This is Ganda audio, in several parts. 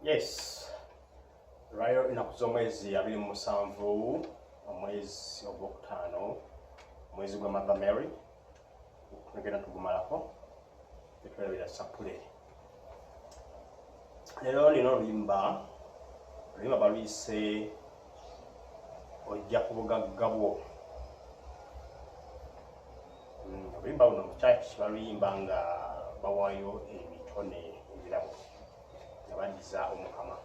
Yes. Rayo enaku z'omwezi abiri mu musanvu omwezi ogwokutaano omwezi gwa Mother Mary tugenda tugumalako netwerabira sapule lero nina oluyimba oluyimba baluyise ojja ku bugagga bwo hmm, oluyimba buno mukyaki baluyimba nga bawayo ebitone ebirabo nga badiza omukama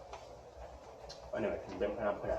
bane batumbe mpolampola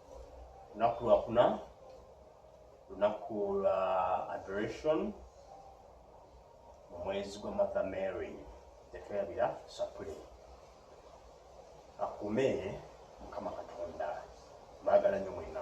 lunaku lwakuna lunaku lwa adoration omwezi gwa mother mary tetwerabira sapule akume mukama katonda bagala nyo mwena